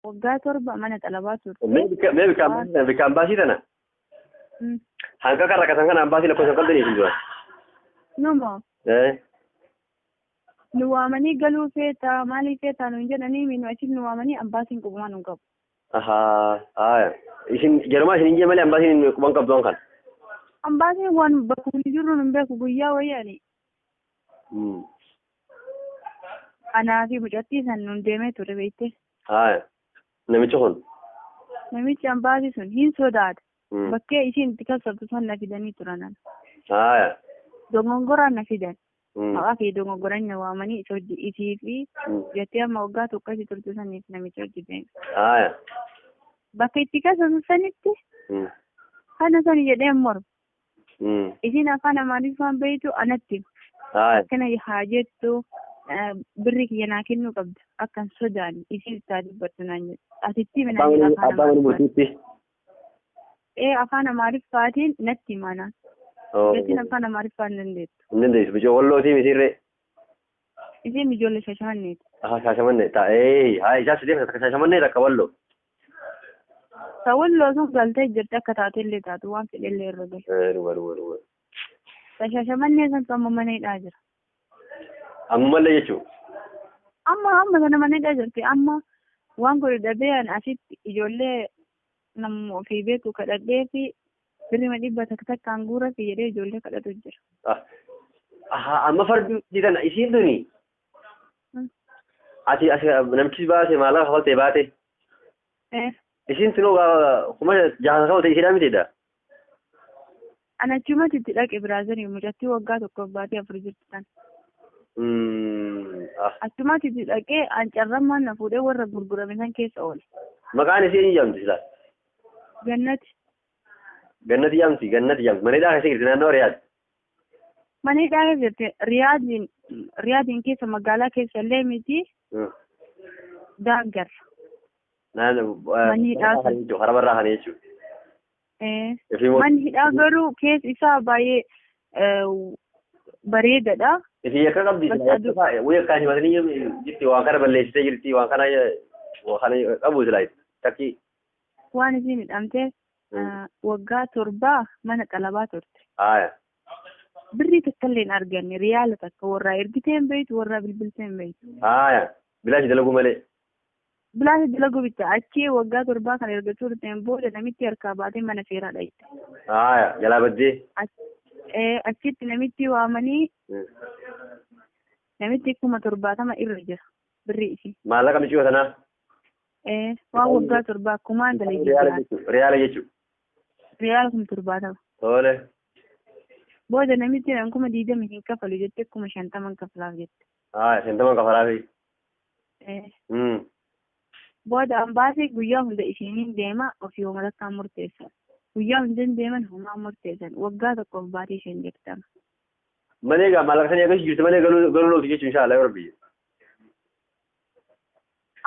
Waggaa torba mana xalabaa turte. Mee bika- mee bikaan bikaan baasii tana Mm. hanga kan rakkatan kanaan baasii lakkoofsa hin qabdanii isin dura. Nama Eh, nu waamanii galuu feetaa maalii feetaa nuun jedhanii minu achiif nu waamanii ambaasiin qubumaa nuun qabu. Ahaa, haaya. Isin jarumaa isin hin jee malee ambaasiin quban qabdu waan kan. Ambaasiin waan bakka nuti jirru nun beeku guyyaa wayyaani. Hmm. Anaa fi mucattii san nun deemee ture beekte. Haaya. Namichi kun. Namichi ambaasii sun hin sodaate. Hmm. Bakkee isiin itti kassabtu san na fidanii turan. ana. Haaya. Dogongoraan na fidan. Hmm. Maqaa kee dogongoraan na waamanii isa hojii isii fi Hmm. jettee amma waggaa tokko isii turte saniif namicha hojii deeme. Haaya. Bakka itti kassabtu sanitti Hmm. kana sani jedhee morma. Mm. Isiin afaan Amaariffaan beektu anatti hima. Haaya. akkana haa jettu eh, birri kiyya naa kennuu qabda akkan sodaan isiin isaa dubbattu naan jedhu asitti himi naan jedha Abbaan afaan abbaan Amaariffaan murtiitti. ee afaan Amaariffaatiin natti hima naan Oh. isiin afaan Amaariffaan dandeettu Hin dandeessu. Bijoo wallootii mitiirree. isiin ijoollee shashaanneeti Aha shaashamannee taa'ee. Haaya isaa sideef akka shaashamannee takka walloo. Ka walloo sun galtee jirti akka taatellee taatu waan fedhellee irra gahe. Eh, dhuga dhuga dhuga. Ka shashamannee sun amma mana hidhaa jira. Ammallee jechuun. Amma amma sana mana hidhaa jirti. Amma waan kun dhabee an asitti ijoollee namni ofii beeku kadhadhee fi birrima dhibba takka takkaan guura fi jedhee ijoollee kadhatu jira. Ah, aha, amma fardi didan isiin tuni. Ati asi namtichi baase maallaqa kafalte baate. Eh, Isin tunoo gaa- kuma jaha kafalte isidhaa mitiidha. Ana achumatti itti dhaqe biraazarii mucattii waggaa tokkoof baatee afur jirti tan. Mm, ah. Achumatti itti dhaqee an carrammaan na fuudhee warra gurgurame san keessa oole. Maqaan isii eenyu jedhamti silaa? Gannati. Gannati jedhamti gannati jedhamti. Mana hidhaa keessa jirti naannoo Riyaad. Mana hidhaa keessa jirti. Riyaadiin Riyaadiin keessa magaalaa keessa illee miti Hmm. daangarra. Naan Manni hidhaa kan jechuun harama irraa kan jechuun. Eh, Ifii moo- Manni hidhaa garuu keessa isaa baay'ee eh, bareedadha. Ifii akka qabdi. Bakka aduu- Wayii akkaan himatanii jirti waan kana balleessitee jirti waan kana waan kana qabu silaa takki Waan isiin hidhamtee Ah, waggaa torbaa mana xalabaa turte Haaya. birrii takka illee hin arganne riyaala takka warraa ergitee hin beektu warraa bilbiltee hin beektu Haaya. Bilaashi dalaguu malee. bilaasha dalaguu bitta achii waggaa torbaa kan erga turteen booda namitti harkaa baatee mana seeraa dhayite Haaya. Jalaa baddee. Ach- eh, achitti namitti waamanii Hmm. namitti kuma torbaatama irra jira birrii ishii Maallaqa miciyoo sanaa. Ee, waan waggaa torbaa kumaan galee Riyaala jijjiirraa. jechuudha. Riyaala jechuudha. Riyaala kuma torbaatama. Tole. Booda namichi jedhan kuma diidama hin kafalu jette kuma shantaman kafalaaf jette. Haa, shantaman kafalaafi. Ee, Hmm. Booda ambaasii guyyaa hunda ishiiniin deema ofii homatakkaan murteessan. Guyyaa hunda hin deeman homaa murteessan. Waggaa tokkoof baatii isheen jirtama. Malee egaa maallaqa sanii akka jirtu malee galuu galuu looti jechuun inshaa Allah yoo rabbi.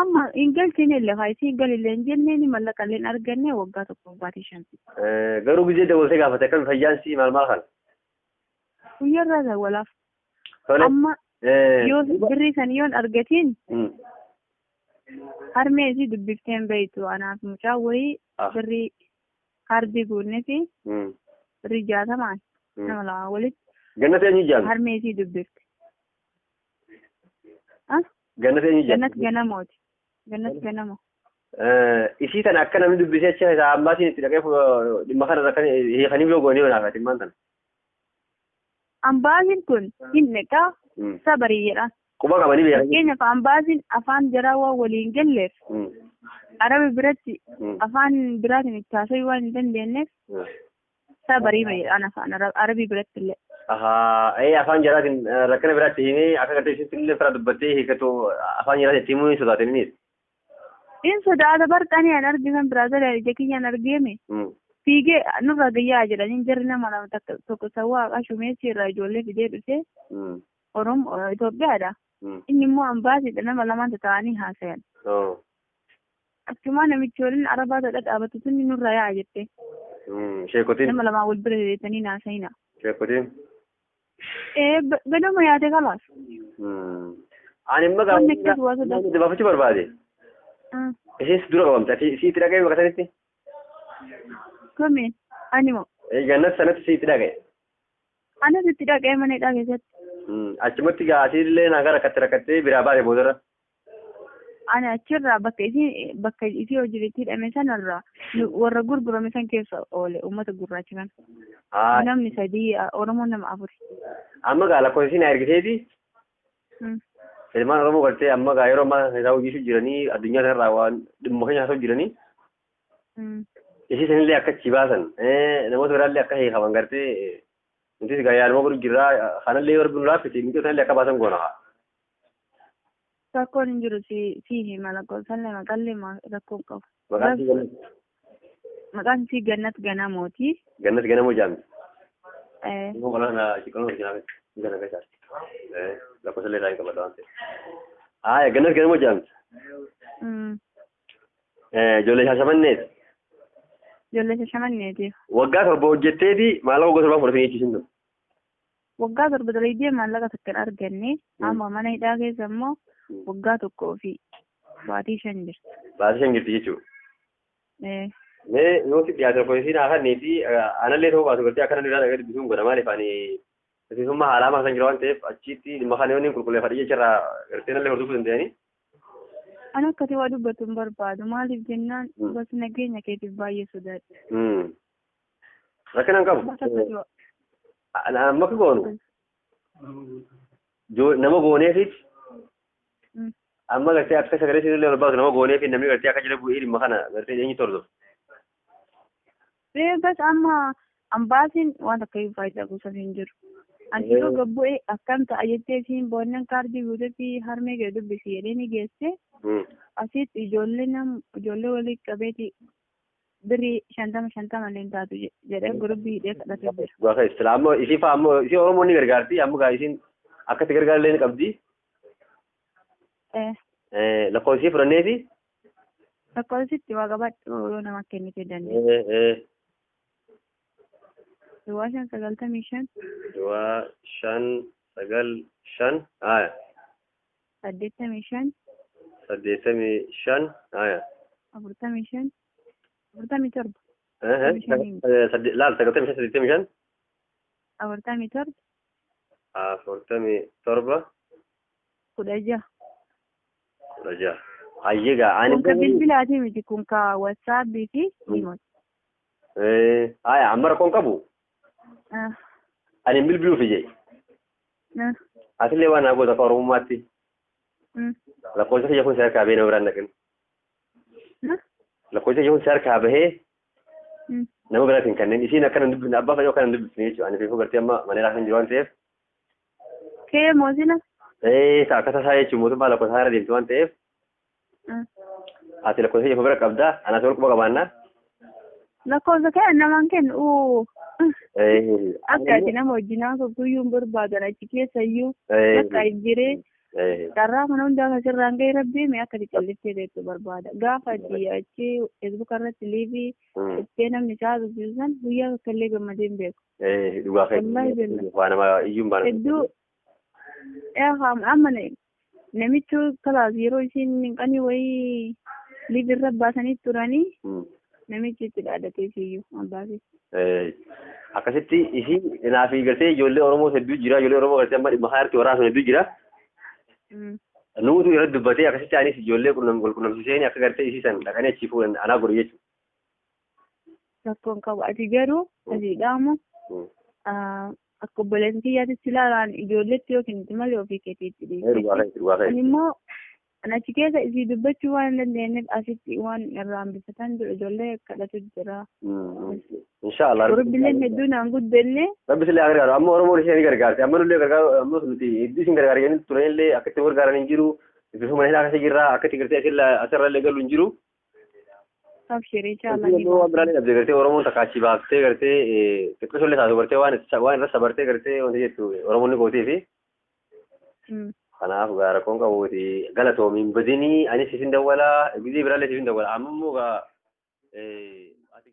Amma hin galchine illee haa isiin galillee hin jenneen mallaqa illee hin arganne waggaa tokko baatii shan. Eh, Garuu gizee dabaltee gaafate akkami fayyaan sii maal maal kana? Guyyarraa dawwalaaf. Tole. Amma Eh, yoo birrii san yoon argatiin mm. harmee isii dubbifteen beektu anaaf mucaa wayii Ah. birrii kaardii guunnee fi Mm. birrii jaatamaan Mm. nama lama walitti Gannatee ni jaami. harmee isii dubbifte. Ah? Gannat eenyu jedhama? Gannat ganamooti. Gannat ganamo. Eh, Isii tana akka namni dubbisee achi isaa ambaasiin itti dhaqee fu- dhimma kana irra kan hiikanii yoo goonee walaafaa dhimmaan tana. Ambaasiin kun hin dhiqaa Mm. sabarii jedha. Quba qabanii beekanii. Fakkeenyaaf ambaasiin afaan jaraa waan waliin galleef Mm. arabi biratti Mm. afaan biraatiin itti haasa'uu waan hin dandeenyeef Mm. Isaa barii bahe ana afaan Arab- arabii biratti illee. Ahaa, ee afaan jaraatiin eh, rakkina biraatti himee akka gartee isin illee fira dubbattee hiikatu afaan jaraatiin itti himuu hin sodaatin innis. In sodaata barxanii an arge kan biraa gara ija kiyyaan argeeme. Mm. Fiigee nurra gayyaa jedhanii jarri nama lama takka tokko sawwaa haqaa shumeessi irraa ijoollee fidee dhufee Mm. Oromo Itoophiyaadha. Mm. Inni immoo ambaasiidha nama lamaan ta'anii haasayan. Oh. Achumaa namichi waliin arabaa tadha dhaabatu sunni nurra yaa'a jette. Sheekotiin. Nama lamaa wal bira deetanii naasayina. Sheekotiin. Ee gadoma yaate kalaas. Ani immoo Wanni akkas waa sodaatu. gaafa dabaafachuu barbaade. Ishiis dura qabamte ati isii itti dhaga'e bakka sanitti. Kamiin animo Gannat sanatti isii itti dhaga'e. anas itti dhaqee mana hidhaa keessatti. Achumatti gaasiillee nagaa rakkatte rakkattee biraa baate boodarra. Ani achirraa bakka isii bakka isii hojiin itti hidhame sanarraa nu- warra gurgurame san keessa oole uummata gurraacha kana. Haa, Namni sadii a- Oromoon nama afuri. amma gaa lakkoofsa isiin naa ergiteeti Mm. ilmaan Oromoo galtee amma gaa yeroo ammaa isaa hojiisu jiranii addunyaa kanarraa waan dhimma keenya haasa'u jiranii Mm. isii sanillee akka achi baasan eh, namoota biraallee akka hiikaman gartee eh, nutis gaa yaaluma godhu jirraa kanallee yoo rabbi nu laaffise miidhoo sanallee akka baasan goona haa. Rakkoon hin jiru si si hima lakkoofsallee maqallee ma- rakkoo hin qabu. Maqaan si Gannat. Maqaan isii Gannat Ganamooti. Gannat Ganamoo jaamti. Eh, Immoo qolaan shiqaloon hojii naaf isa naaf isa. Lakkoofsallee irraa hin qabadha waan ta'eef. Haaya Gannat Ganamoo jaamti. mm, Ijoollee Shaashamanneet. Ijoollee shashamanneetiif. Waggaa torba hojjetteeti maallaqa gosa torbaa fudhatanii jechuusin ture. Waggaa torba dalaydee maallaqa takka hin arganne amma mana hidhaa keessa immoo waggaa tokkoo fi baatii shan jirti. Baatii shan jirti jechuudha. Eh, Mee yoo si dhiyaate tokko isiin haa kannee fi anallee ta'uu baatu gartee akkana dhiiraa dhaqee dubbisuun godha maaliif ani miseensummaa haalaa masan jira waan ta'eef achiitti dhimma kana yoo inni qulqulleeffadhe jecharraa gartee nallee hordofuu danda'anii. Ani akkati waa dubbatu hin barbaadu. Maaliif jennaan Mm. gosa nageenya keetiif baay'ee sodaadha. Rakkina hin qabu. Mata akka jiru. Ana- Amma akka goonu jo- nama gooneefis Mm. amma gartee akka sagalee isin illee barbaadu nama gooneefi namni gartee akka jala bu'ee dhimma kana gartee eenyu tordof. Ee bas amma ambaasiin waan takka hin faayidaa gosoota hin jiru. Ani Ee. yeroo gabbu'ee akkam ta'a jettee siin boonnan kaardii guutetti harmee gadi dubbisi jedhee ni geesse. Asitti ijoollee nam ijoollee walii qabeeti birrii shantama shantama illee hin taatu je- jedhee gurubbii hidhee kadhatee jira. Dhugaa kan islaam ammoo isii fa'aa ammoo isii Oromoon ni gargaarti amma gaa isiin akka itti gargaarullee ni qabdi. Eh, Eh, Lakkoofsa isii fudhannee fi Lakkoofsitti waa qabadhu yoo nama kennitee dandeessu. eh, eh, Duwwaa shan sagaltamii shan duwwaa shan sagal shan haaya saddeettamii shan saddeettamii shan haya afurtamii shan afurtamii torba Ehe, Saddeettamii shaniin. eh, sadde- laal sagaltamii shan saddeettamii shan afurtamii torba afurtamii torba kudha jaha kudha jaha hayyee gaa ani kun ka bilbilaati miti kun ka wasaapii fi imot Eh, haya amma rakkoon qabu ani bilbiluuf ijee Ah, Atillee waan naa goota akka Oromummaatti mm, lakkoofsa kiyya kun si harkaa bahee nama biraan dhaqin. ah, Lakkoofsa kiyya kun si harkaa bahee mm, nama biraatiin kanneen isiin akkana hin dubbifne abbaa fayyoo akkana hin dubbifne jechuudha. Ani fiifuu gartee amma maneeraa kan jiru waan ta'eef Kee moo sila? ee ta'a akka tasaa jechuun mootummaa lakkoofsa haara deemtu waan ta'eef Ati lakkoofsa kee bira qabdaa? Anaa si wal quba qabaannaa? Lakkoofsa kee namaan kennu uu. Akka ati nama wajjin haasoftu guyyuu hin barbaadan achi keessa iyyuu bakka hin jiree carraa kana hundaa kan sirraan ga'e rabbii mee akka ati calliftee beektu barbaada. Gaafa ati achi feesbuuka irratti liivii dhuftee namni isaa haasofsiisu san guyyaa tokko illee gammadee hin beeku. Dhugaa Wallahi keessa. billah. Waa nama iyyuu hin baana. Hedduu yaa amma Namichi kalaas yeroo isiin minqanii wayii liif irra baasanii turanii Mm. namichi itti dhaadatee isiyyuu abbaasee. Eh, akkasitti isii naa fi gartee ijoollee Oromoo hedduu jira ijoollee Oromoo gartee amma dhimma haarti waraabsan hedduu jira Mm. nuutu irratti dubbatee akkasitti anis ijoollee qunnam wal qunnamsiiseen akka gartee isii san dhaqanii achii fuudhan anaa godhe jechuudha. Rakkoon qabu ati garuu asii dhaamu Hmm. ah, akka obboleessi kiyyaatti si ilaalaan ijoolleetti yookiin itti malee ofii keetiitti Ee, dhugaa dhiyeessi. keessa, dhugaa Ani keessa. immoo kan achi keessa isii dubbachuu waan hin dandeenyeef asitti waan irraa hambifatan jiru ijoollee kadhatu jira. Hmm, hmm. Inshaa Allah. Gurubbileen hedduu naan guddenne Rabbi sillee haa gargaaru. Amma Oromoon ishee ni gargaarti. Amma nullee gargaaru, ammas nuti hedduu isin gargaara jennee turan illee akka itti gargaaran hin jiru. Bifa mana hidhaa keessa jirra. Akka itti gartee asirra asirra illee galu hin jiru. Abshirii Wanti jaalanii naannoo waan biraallee dhabde gartee Oromoon takka achi baaftee gartee xiqqisoo illee taatu gartee waan itti- waan irra sabartee gartee wanti jettu Oromoon ni gootii fi Mm. kanaaf gaa rakkoon qabuuti galatoomiin badinii anis isin dawwalaa gizee biraallee isin dawwala amma immoo gaa eh, ati